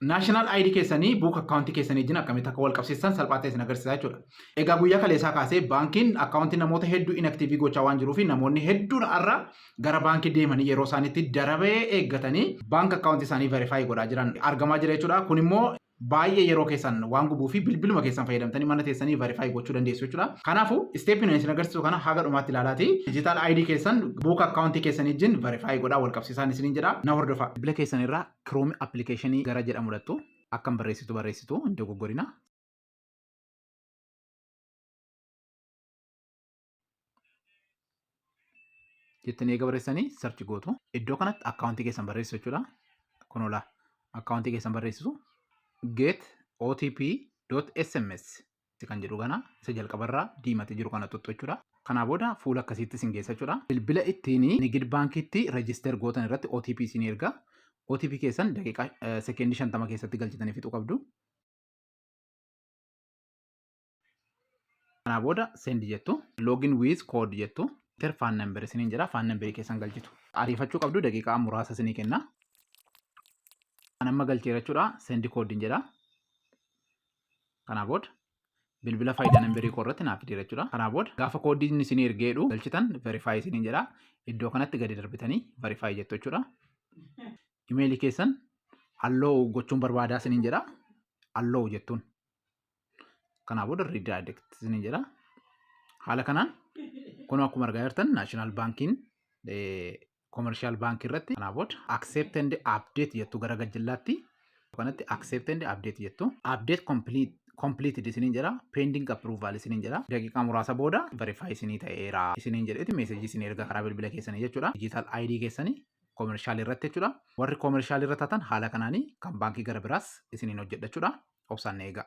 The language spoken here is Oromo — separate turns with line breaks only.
national ID keessanii book account keessanii wajjin akkamitti akka wal qabsiistan salphaa ta'e isin agarsiisa jechuudha. Egaa guyyaa kaleessaa kaasee baankiin akkaawuntii namoota hedduu inaktiivii gochaa waan jiruu fi namoonni hedduun har'a gara baankii deemanii yeroo isaaniitti darabee eeggatanii baank akkaawuntii isaanii verifaayi godhaa jiran argamaa jira jechuudha. Kun immoo baay'ee yeroo keessan waan gubuu fi bilbiluma keessan fayyadamtanii mana teessanii verifaayi gochuu dandeessu jechuudha. Kanaafuu isteepiin isin agarsiisu kana haga dhumaatti ilaalaati. Digital ID keessan buuk akkaawuntii keessanii wajjin verifaayi godhaa wal qabsiisaan isiniin jedha. Na hordofa. Bilbila keessan irraa Chrome application gara jedhamu dhaqxu akkam barreessitu barreessitu hin dogoggorina. Jettanii eega barreessanii search gootu. Iddoo kanatti akkaawuntii keessan barreessisu jechuudha. Kun olaa akkaawuntii keessan barreessisu get otp.sms Itti kan jedhu kana isa jalqabarraa diimate jiru kana tuttu jechuudha. Kanaa booda fuula akkasiitti isin geessa jechuudha. Bilbila ittiin Nigid Baankiitti reejisteer gootan irratti OTP isin erga. OTP keessan daqiiqaa sekeendii shantama keessatti galchitanii fixuu qabdu. Kanaa booda sendi jettu. Login with code jettu. Ter faan namber isiniin jedha. Faan namberii keessan galchitu. Ariifachuu qabdu daqiiqaa muraasa isinii kenna. Kan amma galcheera jechuudha. Sendi koodiin jedha. Kanaa booda bilbila faayidaa nambarii koo irratti naaf fideera jechuudha. Kanaa booda gaafa koodiin isin ergee jedhu galchitan verify isiniin jedha. Iddoo kanatti gadi darbitanii verify jettu jechuudha. Imeelii keessan allow gochuun barbaadaa isiniin jedha. Allow jettuun. Kanaa booda redirect isiniin jedha. Haala kanaan kunoo akkuma argaa jirtan naashinaal baankiin commercial bank irratti kanaa booda accept and update jettu gara gajjallaatti kanatti accept and update jettu update complete completed isiniin jedha pending approval isiniin jedha daqiiqaa muraasa booda verify isinii ta'eera isiniin jedheeti meesejii isin erga karaa bilbila keessanii jechuudha digital ID keessanii commercial irratti jechuudha warri commercial irra taatan haala kanaanii kan baankii gara biraas isiniin hojjedha jechuudha obsaan eegaa